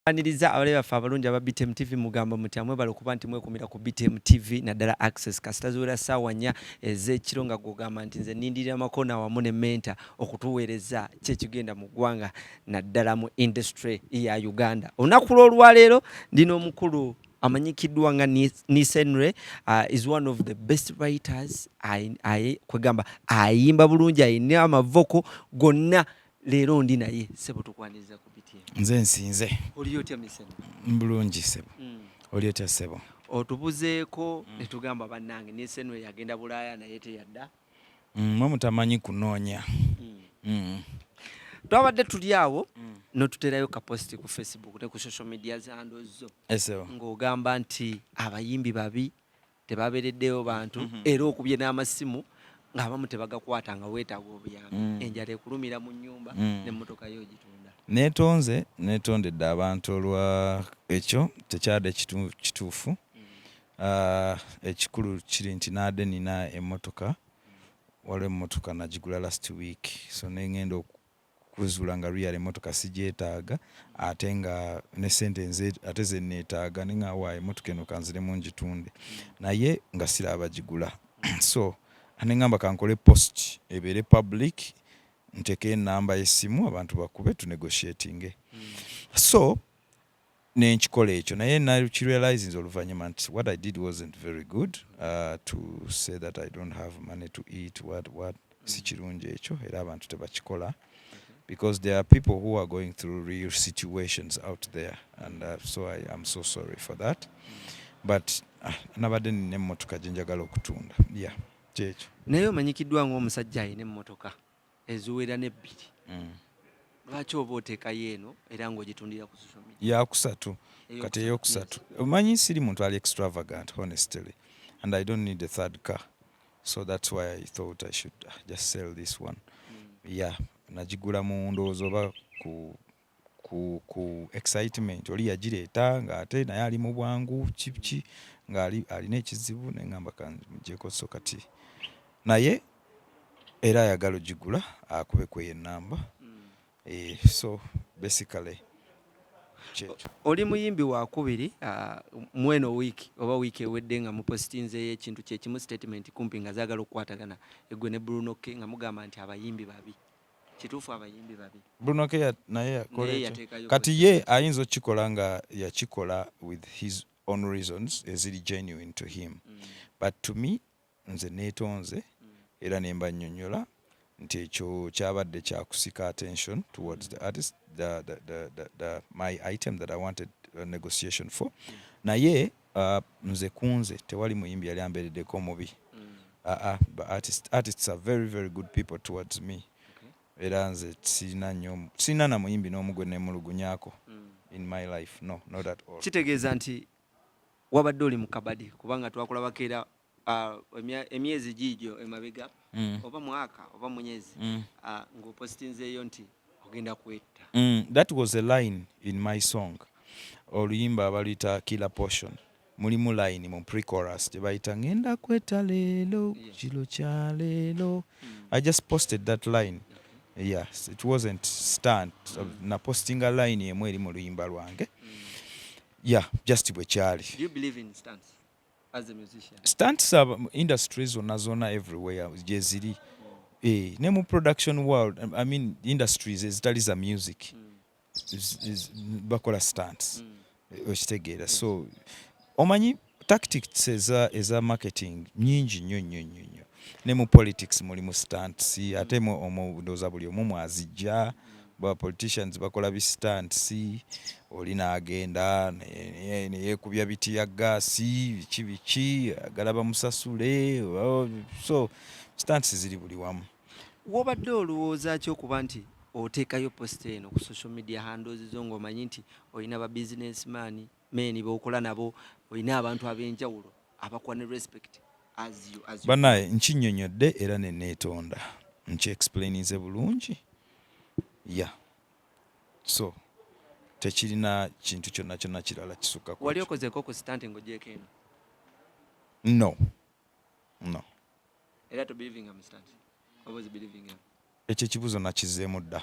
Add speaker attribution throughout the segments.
Speaker 1: Aniriza abalabe baffe abalungi aba BTM TV mugamba muti amwebale okuba nti mwekumira ku BTM TV naddala access kasita ziwera ssaawa nnya ez'ekiro nga gwogamba nti nze nindirira makona wamu ne menta okutuweereza kyekigenda mu ggwanga naddala mu industry ya Uganda olunaku lw'olwaleero ndi n'omukulu amanyikiddwa nga Nisenre uh, is one of the best writers kwegamba ayimba bulungi ayina amavoko gonna leero ndi naye sebo tukwaniriza ku nze nsinze
Speaker 2: oli otya misebo
Speaker 1: mbulungi sebo
Speaker 2: mm. oli otya sebo otubuzeeko mm.
Speaker 1: netugamba bannange nisenre yagenda bulaaya naye teyadda Mm, mwe
Speaker 2: mutamanyi kunoonya mm.
Speaker 1: twabadde tuli awo mm. notuterayo kaposti ku facebook ne ku social media zando zo ng'ogamba
Speaker 2: nti
Speaker 1: abayimbi babi tebabereddeyo bantu mm-hmm. era okubye n'amasimu ng'abamu tebagakwata nga weetaaga obuyambi mm. enjala ekulumira mu nyumba mm. nemmotoka yo ogitunda netonze
Speaker 2: netondedde abantu olwa ekyo tekyade kituufu mm. Ah, ekikulu kiri nti naade nina emotoka waliwo emotoka nagigula last week so nengenda okuzuula nga real emotoka sigyetaaga ate nga ne sente nze ate zenetaaga ne nga wa emotoka eno kanziremu ngitunde naye nga sira abagigula so anengamba kankole post ebeere public nteke enamba yesimu abantu bakube tunegotiatinge hmm. so nenkikola ekyo naye nakirealizinze oluvanyuma nti what I did wasn't very good to say that I don't have money to eat what what sikirungi ekyo era abantu tebakikola because there are people who are going through real situations out there and uh, so I am so sorry for that but uh, nabadde nina emmotoka gyenjagala okutunda yeah kyekyo naye omanyikiddwa
Speaker 1: ngaomusajja alina emmotoka eziwera n'ebbiri mm. lwaki oba oteekayo eno era ng'ogitundira ku social media yakusatu
Speaker 2: kati eyokusatu omanyi siri muntu ali extravagant honestly and i don't need a third car so that's why i thought i should uh, just sell this one mm. yeah nagigula mu ndowooza oba ku ku, ku excitement oli yagireeta ng'ate naye ali mu bwangu kibki ng'ali alina ekizibu naye ngamba kanmugyeko so kati naye era ayagala ogigula akube kweyo enamba mm. eh, so basically oli muyimbi
Speaker 1: wakubiri ah, mweno wiiki oba wiiki ewedde nga mupositinzeyo ekintu kyekimu statement kumpi nga zagala okukwatagana egwe ne brunoke nga mugamba nti abayimbi babi kituufu abayimbi babi Bruno K naye
Speaker 2: yakola ekyo kati ye ayinza okukikola nga yakikola with his own reasons eziri genuine to him mm. but to me nze neetonze mm. era ne mbanyonyola nti ekyo kyabadde kyakusika attention towards the artist the, the, the, the, the, my item that i wanted a negotiation for mm. naye Uh, nze kunze tewali muyimbi yali amberedeko mubi mm. uh, uh, but artists, artists are very very good people towards me okay. era nze sirina nyo sirina na muyimbi n'omu gwe nemulugunyako mm. in my life no not at all kitegeeza nti
Speaker 1: wabadde oli mukabadi kubanga twakulabako era Ah, emyezi giigyo emabega mm. oba mwaka oba munyezi mm. ah, ngaopositinzeeyo nti ogenda kwetta mm, that was a
Speaker 2: line in my song oluyimba abaluyita killer portion mulimu line mu precorus gyebayita ngenda kwetta leero kilo kya leero i just posted that line yes it wasn't stunt napostinga line emu eri mu luyimba lwange yeah just bwekyali
Speaker 1: stunts aba
Speaker 2: industry zonna zonna everywhere gyeziri eh, ne mu production world i mean industries ezitali za music mm. bakola stunts mm. Eh, okitegeera so omanyi tactics eza, eza marketing nyingi nnyo nnyo nnyo nnyo ne mu politics mulimu stunts ate omu ndooza buli omu mwazijja Ba politicians bakola bi stunts oli nagenda neyekubya biti ya gas biki biki agala bamusasule so stunts ziri buli wamu. Wobadde
Speaker 1: olowooza ki okuba nti otekayo post eno ku social media handles zo ng'omanyi nti olina ba business man men bokola nabo olina abantu abenjawulo. abakuwa ne respect as you as you banaye nkinyonyodde
Speaker 2: era ne netonda nki explainize bulungi yeah so tekirina kintu kyonna kyonna kirala kisukka wali okozeko ku stand
Speaker 1: ng'ogyeko eno no
Speaker 2: no era
Speaker 1: to believing am stand obozi believing am Ekyo ekibuzo
Speaker 2: nakizemu dda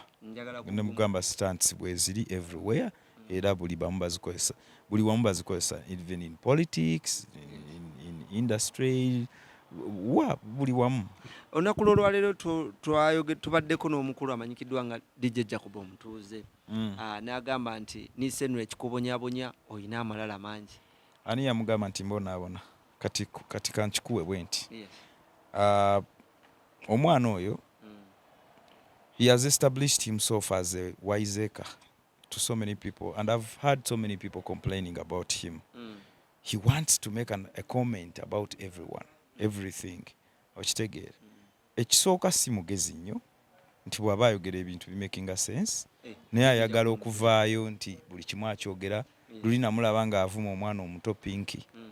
Speaker 2: nemugamba stunts bweziri everywhere era buli bamu bazikozesa buli wamu bazikozesa even in politics in, in, in industry wa buli wamu olunaku
Speaker 1: lwolwaleero tubaddeko n'omukulu amanyikiddwa nga dijja jacob omutuuze mm. ah, n'agamba nti nisenra ekikubonyabonya olina amalala mangi ani yamugamba
Speaker 2: nti mbonaabona kati kankikuwe bwe nti ah, omwana oyo he has established himself as a wiseacre to so many people and i've heard so many people complaining about him mm. he wants to make an, a comment about everyone everything okitegeera mm. ekisooka si mugezi nnyo nti bw'aba ayogera ebintu bimakinga sense eh, naye ayagala okuvaayo nti buli kimu akyogera luli namulaba ng'avuma omwana omuto pinki mm.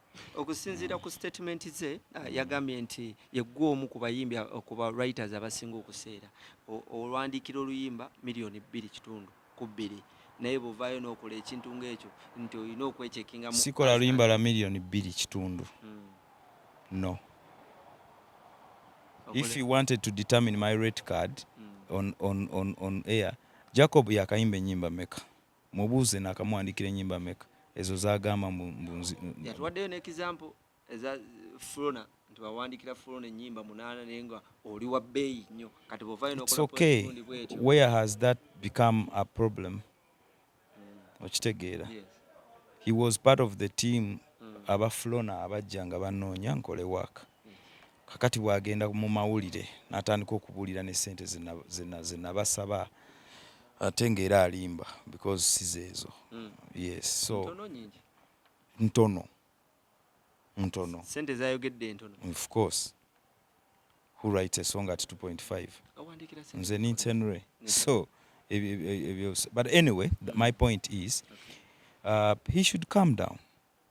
Speaker 2: Okusinziira ku
Speaker 1: statement ze ah, yagambye nti yeggwa omu ku bayimbi ah, ku ba writers abasinga okuseera olwandiikira oluyimba miliyoni bbiri kitundu ku bbiri naye buvaayo n'okola ekintu ng'ekyo nti olina okwechekinga sikola luyimba lwa
Speaker 2: miliyoni bbiri kitundu hmm. no if you wanted to determine my rate card hmm. on, on, on, on air jacob yakayimba enyimba meka Mubuuze nakamuwandikira enyimba meka ezo zagamba mbu yatuwaddeyo ne example
Speaker 1: eza Flona nti wawandikira Flona enyimba munana naye nga oli wa bbeeyi nnyo kati bwovayo nokola okay.
Speaker 2: bwetyo where has that become a problem mm. okitegeera yes. he was part of the team mm. aba Flona abajja nga banoonya nkole work kakati bwagenda mu mawulire natandika okubuulira ne sente zenabasaba ate nga era alimba because sizeezo mm. yes so ntono ntono
Speaker 1: sente zayogedde ntono of course
Speaker 2: who write a song at 2.5 nze nintenre so but anyway my point is uh, he should come down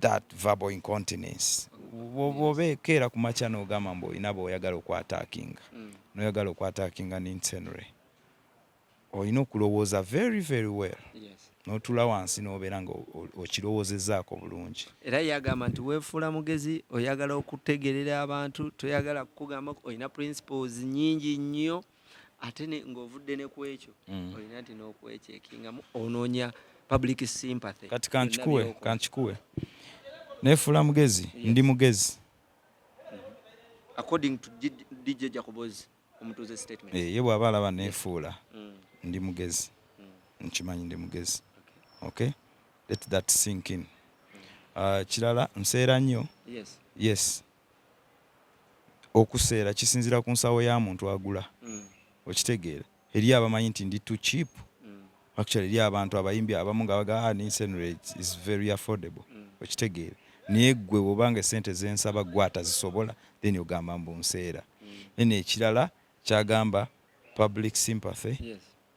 Speaker 2: that verbal incontinence bwobekeera ku makya nogamba mbu olina boyagala okwatakinga mm. noyagala okwatakinga ninsenre olina okulowooza very very well notula wansi nobeera nga okirowoozezaako bulungi era yagamba nti
Speaker 1: wefuula mugezi oyagala okutegerera abantu toyagala kukugamba olina principles nyingi nnyo ate ng'ovudde ne ku ekyo mm. olina nti n'okwekyekingamu onoonya public sympathy kati kankikuwe
Speaker 2: kankikuwe nefuula mugezi ndi mugezi mm-hmm.
Speaker 1: according to dj jacobozi omutuuze statement eh, ye bw'aba alaba
Speaker 2: nefuula mm. ndi mugezi mm. nkimanyi ndi mugezi okay let that sink in uh, kirala nseera nnyo yes Okuseera kisinzira ku nsawo ya muntu agula okitegeera eriyo abamanyi nti ndi too cheap actually eriyo abantu abayimbi abamu nga baga ah, ninsa eno is very affordable okitegeera naye gwe woba nga esente zensaba gwe atazisobola then ogamba mbu nseera then ekirala kyagamba public sympathy yes.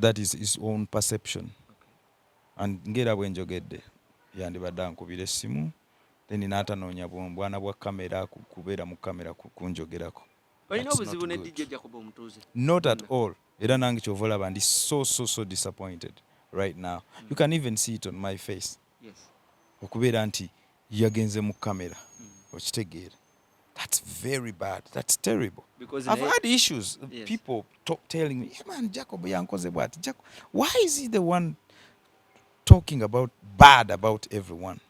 Speaker 2: that is his own perception and ngera bwenjogedde yandibadde ankubira essimu then n'atanoonya bwana bwa kamera kubeera mu kamera kunjogerako olina obuzibu
Speaker 1: ne dj jacob omutuuze not at all
Speaker 2: era nange kyova olaba ndi so so so disappointed right now mm. you can even see it on my face yes.
Speaker 1: okubeera nti
Speaker 2: yagenze mu kamera mm. okitegeera That's very bad. That's terrible. Because I've had
Speaker 1: issues.
Speaker 2: Yes. People talk,
Speaker 1: telling
Speaker 2: me, yeah, man, Jacob yankoze bwati. Jacob, why is he the one talking about bad about everyone?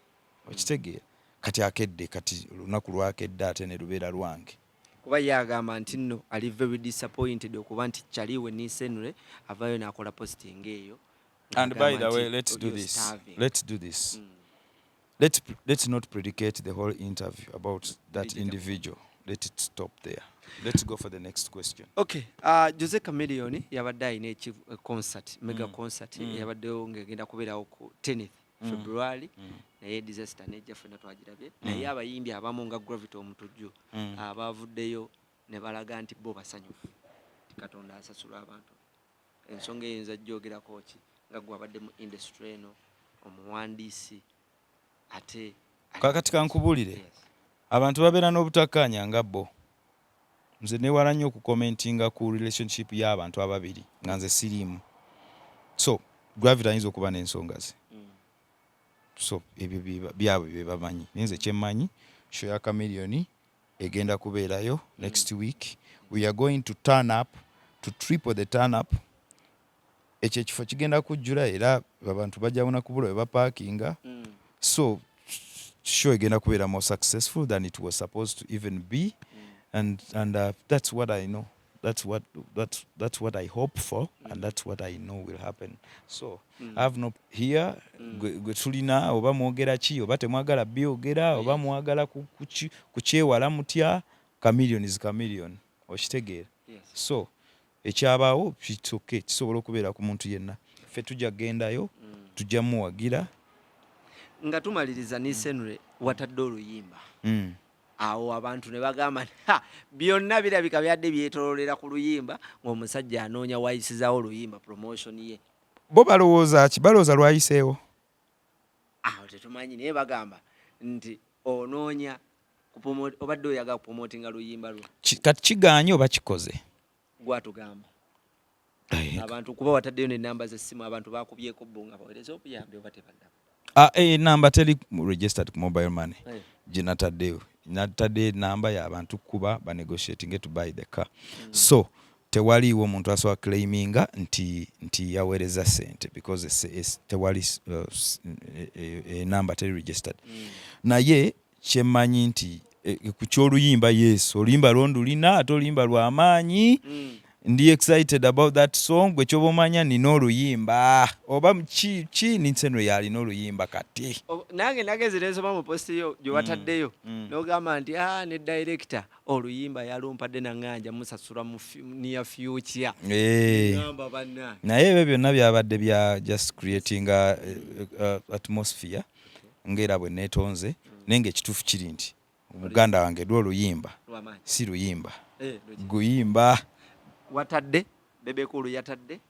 Speaker 2: Okitegeera. Mm. Kati akedde kati lunaku lwakedde ate ne lubeera lwange. Kuba ye agamba
Speaker 1: nti nno ali very disappointed okuba nti kyali we nisenre avaayo n'akola posting eyo. And by the
Speaker 2: way, let's do this. Starving. Let's do this. Mm. Let, let's not predicate the whole interview about that individual. Let it stop there. Let's go for the next question. Okay. Uh, Jose
Speaker 1: Chameleone yabadde alina eki uh, concert, mega mm. concert mm. yabaddewo ng'egenda kubeerawo ku tennis mm. February mm. naye disaster nejja ffenna twagirabye mm. naye abayimbi abamu nga Gravity Omutujju mm. abavuddeyo ne balaga nti bo basanyufu katonda asasula abantu ensonga eyinza jjogerako ki nga gwe abadde mu industry eno omuwandiisi ate kakati
Speaker 2: kankubulire abantu babeera n'obutakkaanya nga bo nze newala nnyo okukomentinga ku relationship y'abantu ababiri nga nze siriimu so gravity ayinza okuba n'ensonga ze mm. so ebyo byabwe bye bamanyi naye nze kyemmanyi show ya kamiliyoni egenda kubeerayo next week we are going to turn up to triple the turn up ekyo ekifo kigenda kujjula era abantu bajawona kubula we baparkinga mm. so show egenda kubeera more successful than it was supposed to even be mm. and, and uh, that's what i know that's what that's that's what I hope for mm. and that's what I know will happen so mm. I have no here mm. gwe mm. tulina oba mwogera ki oba temwagala byogera yes. oba mwagala kukyewala mutya chameleon is chameleon okitegeera yes. so ekyabaawo kitoke kisobola okubeera ku muntu yenna ffe tujja kugendayo mm. tujja muwagira
Speaker 1: nga tumaliriza nisenre mm. watadde oluyimba mm. awo abantu ne bagamba byonna birabika byadde byetololera ku luyimba ng'omusajja anoonya wayisizawo oluyimba promotion ye bo balowooza
Speaker 2: ki balowooza lwayiseewo
Speaker 1: awo tetumanyi naye bagamba nti onoonya obadde oyaga kupromotinga luyimba lwo kati kiganye oba
Speaker 2: kikoze
Speaker 1: gwatugamba abantu kuba wataddeyo nenamba zessimu abantu bakubyeko bo nga bawereza obuyambi oba tebannaba ah, eh, enamba teri
Speaker 2: registered ku mobile money eh. ginataddeyo natadde enamba yabantu kuba banegotiatinge to buy the car mm. so tewaliiwo omuntu asobola claiminga nti, nti yaweereza sente because tewali enamba eh, teri registered mm. naye kyemmanyi nti e, e, ku kyoluyimba yes oluyimba lwo ndulina ate oluyimba lwa maanyi mm. ndi excited about that song gwe kyoba omanya nina oluyimba oba ki ki ninsenwe yalina oluyimba kati nange nagezi
Speaker 1: nensoma mu posti yo gyewataddeyo mm, mm. nogamba nti a ah, ne director oluyimba yalumpadde nanganja musasula mu near future eh.
Speaker 2: naye ebyo byonna byabadde bya just creating a, a, a atmosphere ng'era bwe neetonze naye ng'ekituufu kiri nti muganda wange lwo oluyimba si luyimba eh, guyimba watadde
Speaker 1: bebekulu yatadde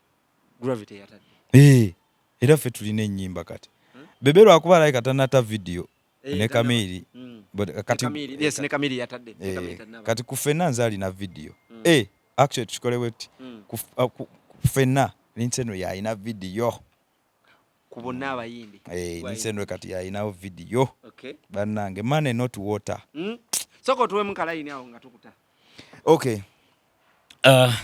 Speaker 1: gravity yatadde eh, era ffe
Speaker 2: tulina ennyimba kati hmm? bebe lwakuba alabika tanata vidiyo eh,
Speaker 1: ne kamiiri hmm. kati ku
Speaker 2: fenna nze alina vidiyo hmm. actually tukikolewe ti ku fenna linsi eno yalina vidiyo
Speaker 1: ku bonna abayimbi eh, nisendwe kati
Speaker 2: alinawo vidiyo bannange money not water hmm? soka otuwemu
Speaker 1: kalayini awo nga tukuta
Speaker 2: okay uh,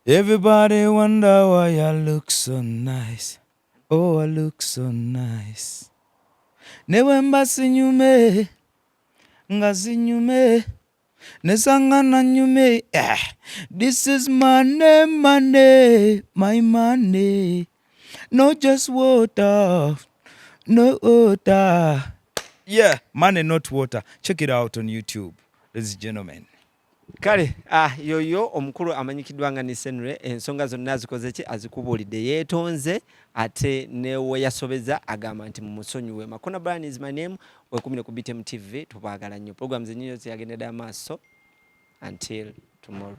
Speaker 2: everybody wonder why i look so nice oh i look so nice ne bwemba sinyume nga zinyume nesangana nyume eh, this is money money my money no just water no water yeah money not water check it out on youtube ladies and gentlemen kale
Speaker 1: ah, yoyo omukulu amanyikiddwa nga nisenre ensonga zonna zikoze ki azikubuulidde yeetonze ate neweyasobeza agamba nti mumusonyiwe makona brian is my name wekumire ku BTM TV tubagala nnyo programs ennyo ziyagendera amaaso until tomorrow